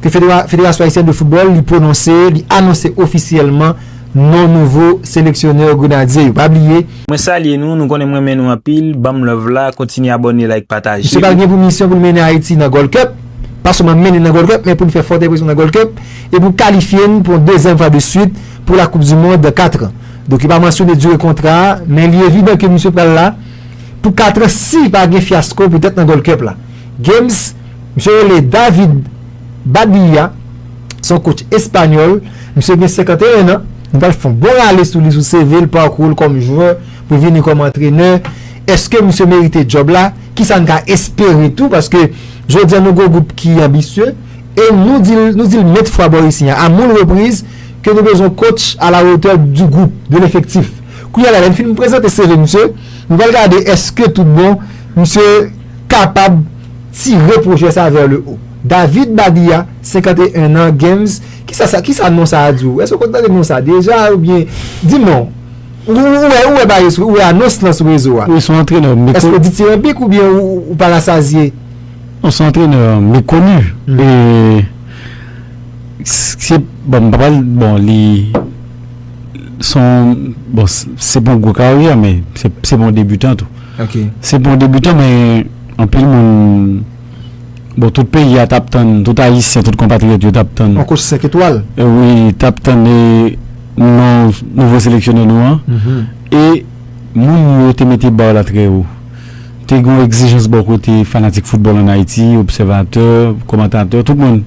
Ke Federasyon Ayisyen de Foutbòl li pwononse, li anonse ofisyèlman non nouvo seleksyonè Grenadye yo. Pa bliye. Mwen salye nou, nou konnen m renmen nou anpil, banm love la, kontinye abòne like pataje. Misye pral gen pou misyon pou l mennen Ayiti nan Gold Cup, pa sèlman mennen nan Gold Cup men pou n fè fòt enpresyon nan Gold Cup e pou kalifye n pou yon dezyèm fwa de swit pou la koup di mond dan 4 an. Donk yo pa mansyone dire kontra a men li evidan ke misye pral la pou 4 an si pa gen fyasko petèt nan Gold Cup la. Games. Misye rele David Badilla, se yon coach espanyòl, misye gen 51 an, nou pral fè yon bon rale sou li, sou CV l, parkou l kòm jwè pou vini kòm antrenè, eske misye merite djòb la, kisa n ka espere tou paske jodi an nou gen yon gwoup ki anbisye e nou di l, nou di l mèt fwa bò isi an, a moun repriz ke nou bezwen yon coach a la wotè di gwoup, de lefektif. Kounye a la, lè n fin prezante CV misye, nou pral gade eske tout bon misye. kapab tire pwojè sa vè le o. David Badia, 51 an, Games, kisa sa, kisa non sa a di w? Èske w konn tande non sa a deja oubyen di m non? Ou wè, ou wè bagay sou, ou wè anons lan sou rezo a? Wi, son antrenè mekoni. Èske w ditiranbik oubyen ou pa rasazye? Non, son antrenè mekoni. E, se, bon, m pa pral, bon, li, son, bon, se pa yon gwo karyè men se pa yon debutan tou. Ok. Se pou yon debutan men anpil moun bon tout peyi a tap tann tout ayisyen tout konpatriyòt yo tap tann Yon kotch 5 etwal. wi tap tann non nouvo seleksyonè nou an e moun yo te mete ba la trè wo te gen yon egzijans bò kote fanatik foutbòl an ayiti obsèvatè komantatè tout moun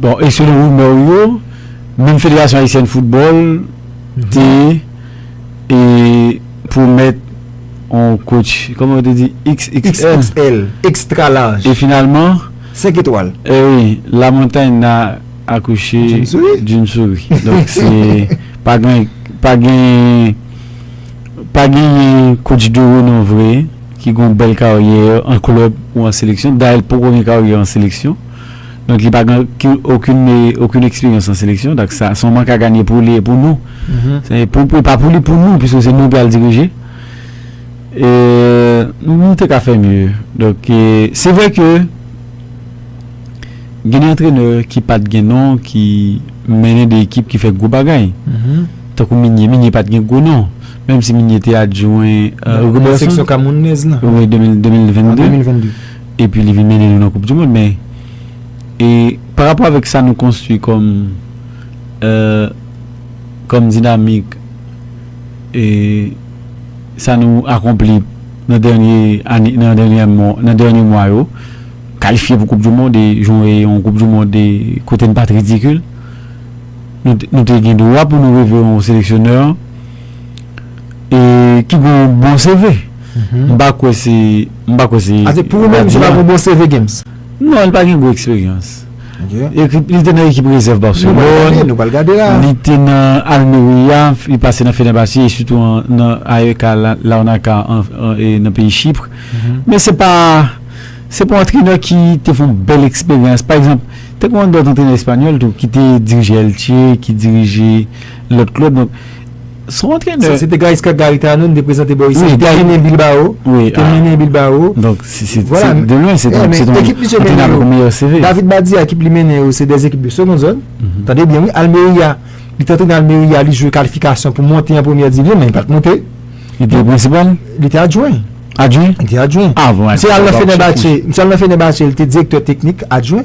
bon e selon rimè yo menm federasyon ayisyèn foutbòl te pwomèt on coach kòman yo te di xxl extra large e finalman 5 etwal eh wi la montagne n'a accouché d'une souris donk se pa gen pa gen pa genyen coach de renom vre ki gon bèl karyè an klèb ou an seleksyon dayè li poko gen karyè an seleksyon. Donk li pa gen okenn eksperyans nan seleksyon. Donk sa se yon mank a ganye pou li e pou nou. E pa pou li, pou nou. Piske se nou ki al dirije. E nou te ka fè mye. Donk se vre ke gen de antrenè ki pat gen non, ki mennen de ekip ki fè gwo bagay. Tankou Minye. Minye pat gen gwo non. Menm si Minye te adjwen. Nan seksyon Kamounèz la. An 2022. Epi li vin mennen nou nan koup du mond men e pa rapò avèk sa nou konstwi kòm e kòm dinamik e sa nou akonpli nan dènye ane nan dènye mò nan dènye mwa yo kalifye pou koup du mond e jwon e yon koup du mond e kote n pat ridikil nou te nou te gen dwa pou nou reve yon seleksyonè E ki gen yon bon CV. M pa kwè se. M pa kwè se. Ase pou ou menm se pa gen yon bon CV Games? Non, li pa gen gwo eksperyans. Li te nan ekip rezèv Barcelone. Nou pral gade la. Li te nan Almeria, li pase nan Fenerbahçe e sitou nan AEK Larnaca nan peyi Chypre. Men se pa. Se pa yon antrenè ki te fè yon bèl eksperyans. Pa egzanp, te gen yon lòt antrenè espanyòl tou ki te dirije Elche, ki dirije lòt klèb. Son antrenè. Se te Gaisca Garitano, nou te prezante bò isi. Li te mennen Bilbao. Li te mennen Bilbao. Donk, se de lwen, se ton antrenè avèk yon meyè CV. David Badia, ekip li mennen yo, se de ekip de seconde zone. Tande byen wi, Almeria. Li te antrenè Almeria, li jwe kalifikasyon pou monte an premyè divizyon, men li pa t monte. Li te prensipal? Li te adjwen. Adjwen? Li te adjwen. Misye al nan Fenerbahçe. Misye al nan Fenerbahçe, li te direktè teknik, adjwen.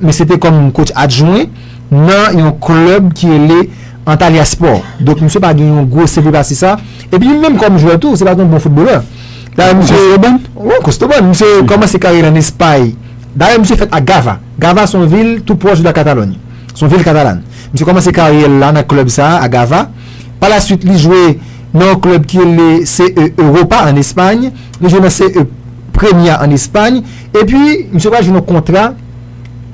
Mesye te kòm kotch adjwen nan yon klèb ki rele Antalya Spò. Donk misye pa gen yon gwo CV pase sa. Epi li menm kòm jwè tou, se pa t yon bon foutbolè. Dayè misye. Kostobòn? Wi, Kostobòn. Misye kòmanse karyè l an Espay. Dayè misye fèt a Gava. Gava se yon vil tou pwòch de la Katalòny. Se yon vil katalan. Misye kòmanse karyè l la nan klèb sa a, a Gava. Palasuit li jwe nan yon klèb ki rele CE Europa an Espay. Li jwe nan CE. Premia an Espagne epi misye pral jwenn yon kontra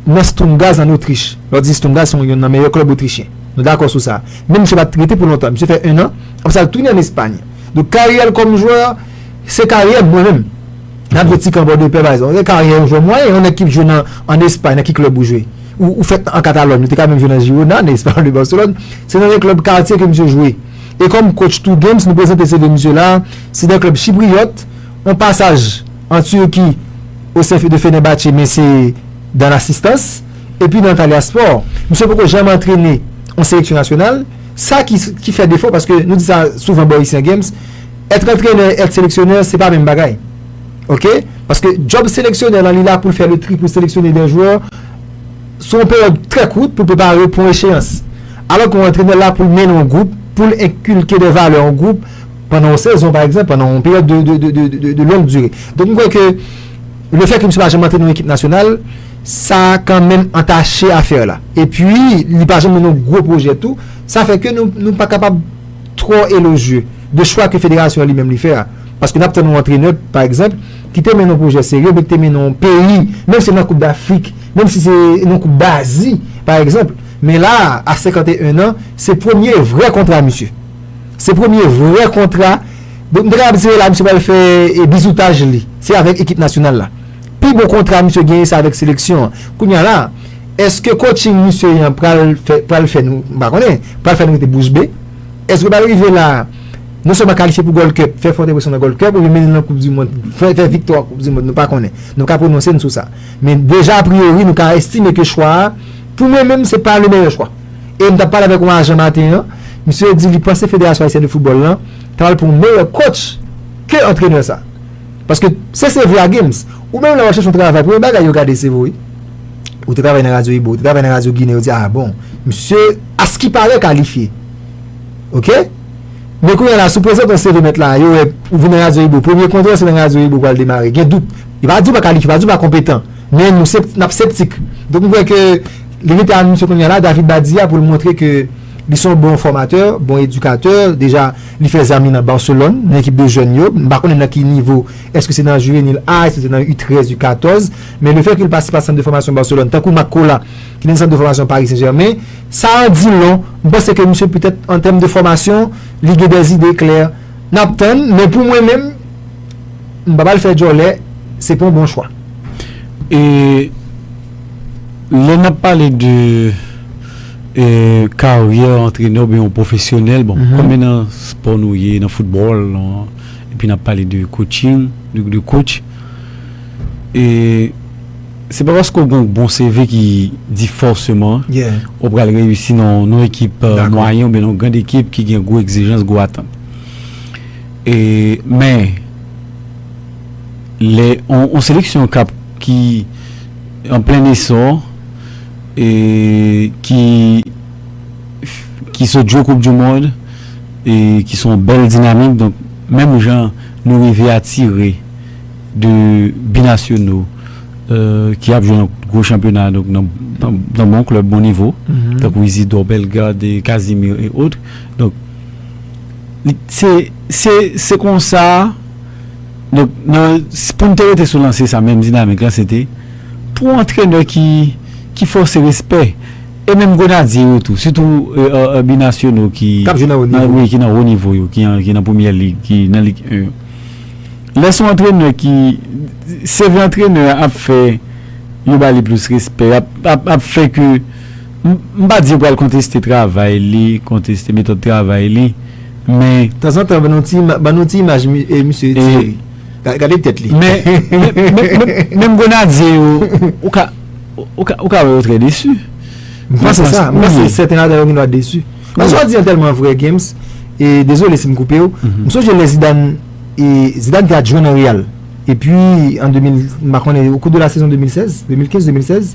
nan Sturm Graz an Otrich. Lè w di Sturm Graz se yon nan meyè klèb otrichyen. Nou dakò sou sa. Men misye pa t rete pou lontan. Misye fè ennan, apre sa l tounen an Espagne. Donk karyè l kòm jwè, se karyè mwen menm, n ap jwe ti kan bò de pè pa egzanp, se karyè yon jwè mwayen. Yon nèg ki jwe nan an Espagne, nan ki klèb ou jwe? Ou fèt an Katalòn, ou te ka menm jwe nan Girona, nan Espagnol de Barcelone. Se nan yon klèb katye ke misye jwe. E kòm kotch tou Games, nou prezante seve misye la a, se nan klèb chipriyòt. On pasaj an Turki o sèfi de Fenerbahçe men se dan lasistans. Epi nan Antalya Sport, misye poko janm antrene on seleksyon nasyonal. Sa ki fè defo paske nou di sa souvan bò isi an Games, èt antrenè, èt seleksyonè se pa menm bagay. Ok? Paske djòb seleksyonè lan li la pou l fè le tri pou l seleksyone dè jwè sou on peryòd trè kout pou l prepare pou on echeyans. Alò ke on antrenè la pou l mennen on gwoup, pou l enkilke dè valè on gwoup. pandan yon sezon pa egzanp, pandan yon peryòd de longue durée. Donk m kwè ke le fè ke misye pa janm antre nan yon ekip nasyonal, sa kan menm antache afè la. E pwi, li pa janm nan yon gwo pwojè tou, sa fè ke nou pa kapab twò elojye de chwa ke federasyon an li menm li fè a. Paske n ap tann yon antrenè, pa egzanp, ki te mennen yon pwojè serye, oubyen ki te mennen yon peyi, menm si nan koup dafrik, menm si se nan koup dazi, pa egzanp. Men la a, a 51 an, se premye vrè kontra misye. Se premye vrè kontra, mwen te kapab dire la misye pral fè bizoutaj li, se avèk ekip nasyonal la. Pi bon kontra misye genyen se avèk seleksyon an. Kounya la, èske coaching misye an pral fè pral fè nou, m pa konnen, pral fè nou rete bouch be? Èske l pral rive la non sèlman kalifye pou Gold Cup, fè fòt enpresyon nan Gold Cup oubyen mennen l nan koupdimond, fè fè viktwa an koupdimond? Nou pa konnen. Nou ka pwononse n sou sa. Men deja apriori nou ka estime ke chwa a, pou mwen menm se pa le meyè chwa. E m t ap pale avèk yon ajan maten an, misye di li panse Federasyon Ayisyen de Foutbòl lan ta pral pran yon meyè kotch ke antrenè sa. Paske se se vre a Gims, ou menm lè w ap chèche yon travay premye bagay yo gade se vo wi. Ou te travay nan radyo Ibo, ou te travay nan radyo Ginen, yo di a bon, misye askipare kalifye. Oke? Men kounye a la si w prezante yon CV mèt la, yo wè ou vin nan radyo Ibo, premye kontre w se nan radyo Ibo ou pral demare, gen dout. Yo pa di w pa kalifye, yo pa di w pa konpetan, men nou se, n ap septik. Donk m kwè ke Li rete anonse kounye a la, David Badia pou l montre ke li se yon bon fòmatè, bon edikatè, deja li fè zanmi nan Barcelone, nan ekip de jèn yo, m pa konnen nan ki nivo, èske se nan juvenil A, èske se nan U13, U14, men le fè ke li pase pa sant de fòmasyon Barcelone, tankou Marc Cola ki nan sant de fòmasyon Paris Saint-Germain, sa an di lon, m panse ke misye petèt an tèm de fòmasyon, li gen dè zide klè. N ap tann, men pou mwen menm, m pa pral fè djòlè, se pa yon bon chwa. E. Lè n ap pale de karyè antrenè oubyen yon pwofesyonèl, bon konbyen nan spò nou ye, nan foutbòl, epi n ap pale de kotching, de kotch, se pa paske w gen yon bon CV ki di fòseman ou pral reyisi nan yon ekip mwayen oubyen nan yon grand ekip ki gen gwo egzijans, gwo atant. Men, lè yon seleksyon k ap. ki an plen esò e ki ki sot jwe koup du mond e ki son w bèl dinamik donk menm jan nou rive atire de binasyonaux ki ap jwe nan gwo chanpyona donk nan bon klèb bon nivo tankou Isidor Bellegarde Casimir et autres donk se se konsa. Donk nan pou n te rete sou lanse sa menm dinamik lan se te pou antrenè ki ki fòse respè e menm grenadye yo tou sitou binasyonal ki k ap jwe nan wo nivo yo ki nan premyè lig ki nan lig 1 yo lè s on antrenè ki sèvi antrenè a ap fè yo ba li plis respè ap fè ke M pa di yo pral konteste travay li, konteste metòd travay li, men. Tanzantan ban nou ti, ban nou ti imaj misye Thierry. Gade tèt li. Men, menm Grenadye yo, ou ka, ou ka wè yo trè desu. M panse sa, m panse sèten ladan yo gendwa desu. Sa w di an tèlman vrè Gims, e dezole si m koupe w, m sonje lè Zidane, Zidane te al jwe nan Real, epi an 2000, m pa konnen, o kou de la sezon 2016, 2015, 2016.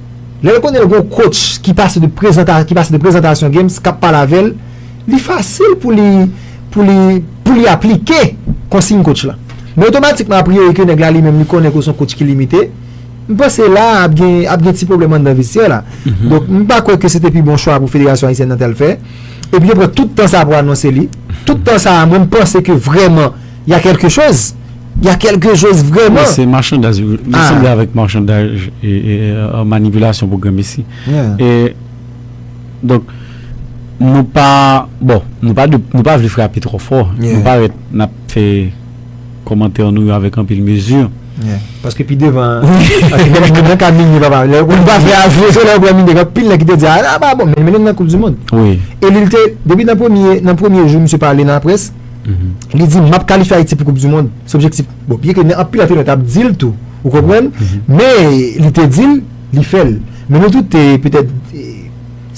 Lè l konnen l gon coach ki pase de prezantasyon ki pase de prezantasyon games kap pale avè l, li fasil pou li pou li pou li aplike konsiyn coach la. Men otomatikman apriyori ke nèg la li menm li konnen ke w se yon coach ki limite, m panse la a ap gen ap gen ti pwoblèm anndan vestyè la. Donk m pa kwè ke se te pi bon chwa pou federasyon ayisyèn nan te al fè. Epi yo pran tout tan sa a pou anonse li. Tout tan sa a mwen m panse ke vrèman Y a kèlke choz? Y a kèlke choz vrèman? Mwen se machandaj, mwen sanble avèk machandaj e manipilasyon pou granmesi. E, donk, nou pa, bon, nou pa de, nou pa vle frape trò fò. Nou pa ret nap fè komantè nou yo avèk anpil mezi. Ye. Paske pi devan, ake mwen mwen mwen ka mini pa pa. Lè ou pa fè avre, se lè ou pa mini gen pil nèg ki te di a la ba bon, men menen nan koup di moun. Wi. E li te, depi nan premye, nan premye jou msye pale nan la près. Li di, map kalifye Ayiti pou koup di mond. Se objektif. Bon, byen ke anpil antrenè tap di l tou. Ou konprann? Men, li te di l, li fè l. Men nou tout te petèt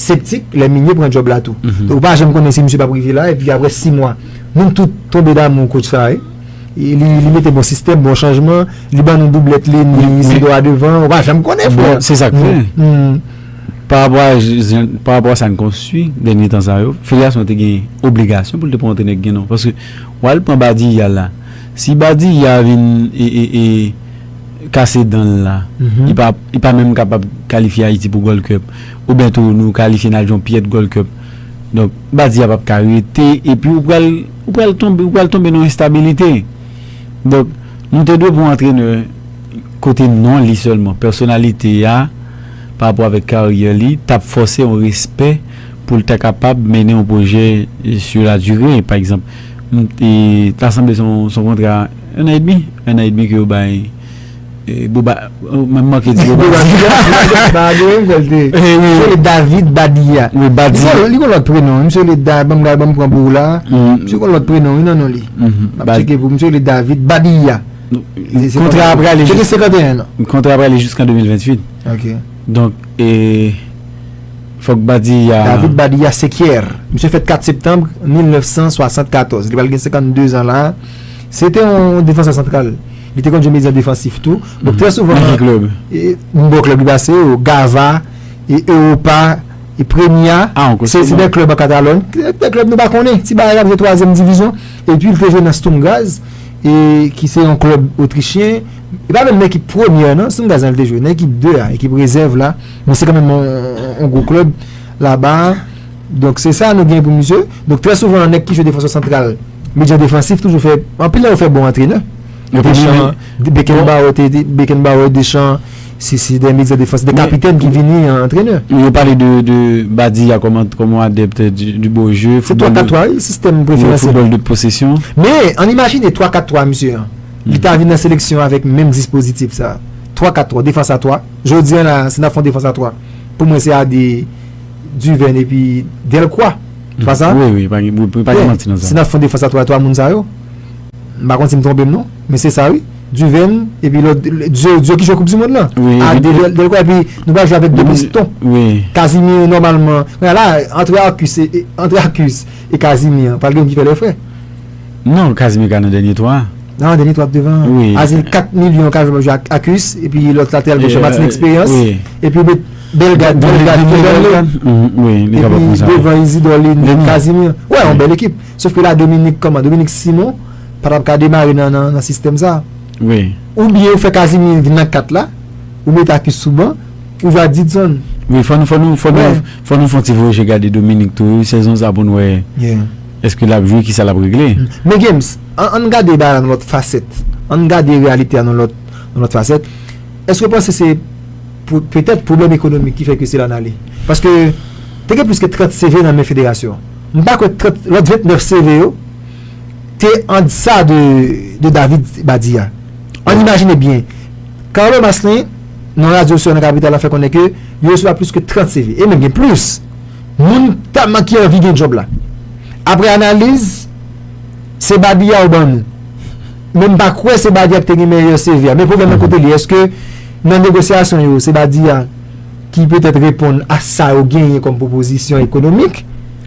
septik lè Migne pran djòb la tou. Ou pa janm konnen si misye pap rive la. Epi aprè 6 mwa, nou tout tonbe damou kotch sa. Li mete bon sistèm, bon chanjman. Li ban nou doublèt li, ni Isidro a devan. Ou pa janm konnen, frè. Se sa k fè. Pa rapò a jan, pa rapò a sa n konstwi dènye tan sa yo, federasyon an te gen obligasyon pou l te pran yon antrenè ki gen non. Paske w al pran Badiyah la, si Badiyah vin e kase dan l la, li pa li pa menm kapab kalifye Ayiti pou Gold Cup. Oubyen tou nou kalifye n al jwe yon pyèd Gold Cup. Donk Badiyah pap ka rete epi ou pral ou pral tonbe ou pral tonbe nan yon enstabilite. Donk nou te dwe pran yon antrenè kote non li sèlman, pèsonalite a. pa rapò avèk karyè li t ap fòse yon respè pou l ta kapab mennen yon pwojè sur la durée pa egzanp m ta sanble se yon kontra 1 an edmi 1 an edmi ke yo bay Boba m manke di Boba David Badia li gon lòt prenon wi misye rele Da banm pran pou ou la a misye gon lòt prenon wi nan non li m ap tcheke pou ou misye rele David Badia. Kontra a prale jis. Depi 51 an. Kontra a prale jis kan 2028. Ok. Donk e. Fok badi ya. David badi ya sekyèr. Misye fèt 4 septanb 1974. Li prale gen 52 an la. Se te yon defansè santral. Li te konn jwe medyan defansif tou. Donk trè souvan. Nan ki klub? Nan bon klub li pase yo. Gava. E Europa. E Premier. A an kousi. Se de klub an Katalon. De klub nou pa konnen. Ti ba yon ap jwe 3 zem divizyon. E pi li te jwe nan Stumgaz. e ki se yon klèb otrichyen e pa menm nan ekip premyè nan Stan Gazan li te jwe nan ekip 2 a ekip rezèv la men se kanmenm yon gwo klèb laba donk se sa nou gen pou misye donk trè souvan nèg ki jwe defansè santral medyan defansif toujou fè anpil nan yo fè bon antrenè Deschamps Beckenbauer Beckenbauer Deschamps Si si dè medya defans dè kapitèn ki vini an antrenè. Men yo pale de de Badia kòm ant kòm yon adèpt di di beau jeu. Se 3 4 3 wi sistèm preferansyèl. Yon foutbòl de posesyon. Men ann imajine 3 4 3 misye an. Li ta vin nan seleksyon an avèk menm dispozitif sa a. 3 4 3 defans a 3. Jodi an la a si n ap fè yon defans a 3 pou mwen se Ade, Duvène epi Dèlkwa. Se pa sa? Wi wi pa gen wi pa gen manti nan sa. Si n ap fè yon defans a 3 3 moun sa yo. M pa konn si m twonpe m non. Men se sa wi. Duven epi lòt Diyo ki jwe koup di mond lan a Devel Delko epi nou pral jwe avèk 2 piston Casimir nòmalman men la antre Arcus e antre Arcus e Casimir pral gen youn ki fè lè frè non Casimir ka nan dènye 3 nan nan dènye 3 ap devan Casimir 4 milyon ka jwe map jwe ak Arcus epi lòt lateral goch la Martin eksperyans epi ou met Bellegarde Bellegarde Bellegarde epi devan Isidor Lynn Casimir wè yon bèl ekip. Sof ke la Dominique kòman? Dominique Simon pa tap ka demare nan sistèm sa. Ou byen ou fè Casimir vin nan 4 la, ou mete Athus sou ban, ou jwe ak Didson. Wi fò nou fò nou fò nou fò nou fon ti voye je gade Dominique tou wi sezon sa poun wè eske lap jwe kisa lap regle. Men Games, ann gade bagay la nan lòt fasèt, ann gade reyalite a nan lòt nan lòt fasèt, èske ou panse se pou petèt pwoblèm ekonomik ki fè ke se la n ale? Paske te gen plis ke 30 CV nan men federasyon an. M pa kwè 30 lòt 29 seve yo te an dsa de David Badia. Ann imajine byen, Carlo Masslin nan radyo sou nan kapital la fè konnen ke li resevwa plis ke 30 seve e menm gen plis moun tèlman ki anvi gen djòb la. Aprè analiz, se Badia ou ban nou. Men m pa kwè se Badia ki te gen meyè seve a. Men pwoblèm nan kote li? Eske nan negosyasyon yo se Badia? ki petèt reponn a sa yo genyen kòm pwopozisyon ekonomik.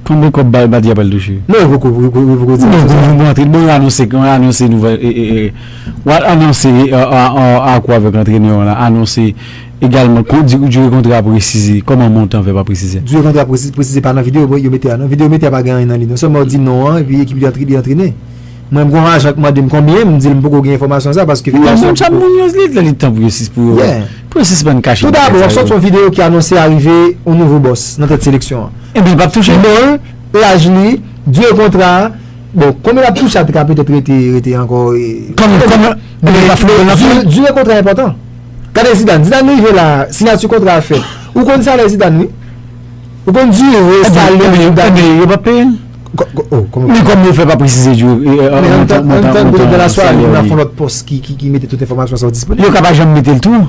Konbyen kòb bay Bati a pral touche? Non yo poko di yo poko di anonse sa. Bon antre bon yo anonse yo anonse nouvèl wal anonse ak ou avèk antrenè w lan anonse egalman kon di dire kontra presize kòman montan fè pa presize? Dire kontra presize pa nan videyo yo mete a non videyo yo mete a pa gen anyen nan li non sèlman w di non an epi ekip li antre li antrene. Mwen m konn ajan k mande m konbyen m di l m poko gen enfòmasyon sa paske figurasyon poko. Nan menm chat moun yo li lè li tan pou yo sis pou yo pou yo sispann kache bagay sa yo. Tou dabò wap sòti yon videyo ki anonse arive yon nouvo bòs nan tèt seleksyon an. Ebyen li pap touche. Non l, laj li, dire kontra a, bon konbyen lap touche a te ka petèt rete rete ankò e. Konbyen konbyen ebyen li pa foutbòl nan fè. Dire kontra a enpòtan. Gade Zidane, Zidane rive la a, siyati kontra a fèt. Ou konn salè Zidane wi. Ou konn dire salè Zidane. Ebyen yo pap peye l. Men kòman yo fè pa presize yo montan montan salè yo. Nan laswa a li nan fon lòt pòs ki mete tout enfòmasyon sa yo disponib. Yo ka pa janm mete l tou.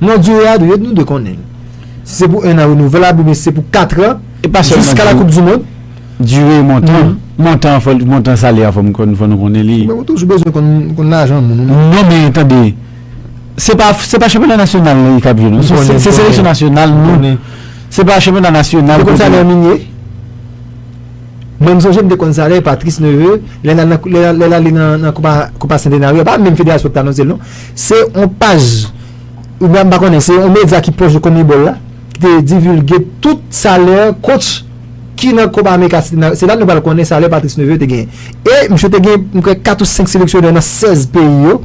Non dire a dwe nou dwe konnen l. Si se pou 1 an renouvèlab oubyen si se pou 4 an jiska la koup di mond. Dire montan montan fò montan salè a fò m konn fò nou konnen li. Mwen toujou bezwen konn lajan moun. Non men tande se pa se pa chanpyona nasyonal li kap jwe non se seleksyon nasyonal nou se pa chanpyona nasyonal. Ou konn salè minye? Mwen m sonje m te konn sa lè Patrice Neveu lè l al lè l ale nan Copa Centenario pa menm federasyon ki t anonse l non se on paj oubyen m pa konnen se on medya ki pwòch de Conmebol la ki te divilge tout salè kotch ki nan Copa America Centenario se la nou pral konnen salè Patrice Neveu te genyen e misye te gen m kwè 4 ou 5 seleksyonè nan 16 peyi yo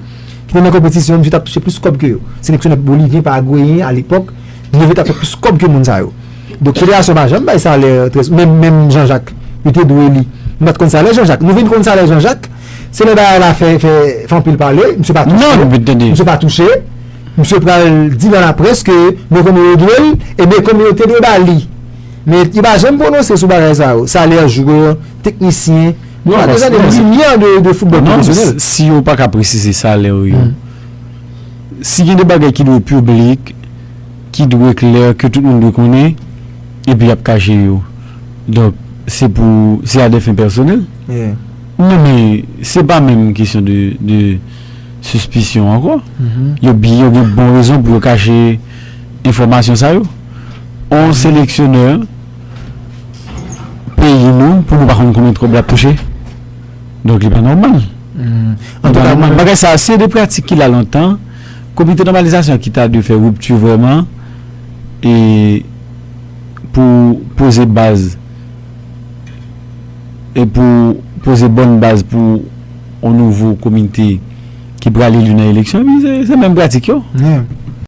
ki te nan konpetisyon misye t ap touche plis kòb ke yo seleksyonè bolivyen paragweyen alepòk Li devye ta fè plis kòb ke moun sa yo. Donk federasyon pa janm bay salè trè menm menm Jean Jacques yo te dwe li. M pat konn salè Jean Jacques. Nou vin konn salè Jean Jacques se lè bagay la fè fè fè anpil pale misye pa touche misye pa touche misye pral di nan laprès ke men konbyen yo dwe l e men konbyen yo te dwe ba li. Men yo pa janm pwononse sou bagay sa yo. Salè jwè, teknisyen nou pa bezwen de limyè de foutbòl pwofesyonèl. Si yo paka presize salè yo. Si gen de bagay ki dwe piblik, ki dwe klè, ke tout moun dwe konnen, epi y ap kache yo, donk se pou, se a de fen pèsonèl? Non men, se pa menm kesyon de sispisyon ankò. Yo gen bon rezon pou yo kache enfòmasyon sa yo. On seleksyonè peyi nou, pou nou pa konn konbyen twòb l ap touche? Donk li pa nòmal. Bagay sa a se de pratik ki la lontan. Komite nòmalizasyon ki ta dwe fè ripti vrèman e pou poze baz e pou poze bòn baz pou yon nouvo komite ki prale li nan eleksyon. Se menm pratik yo.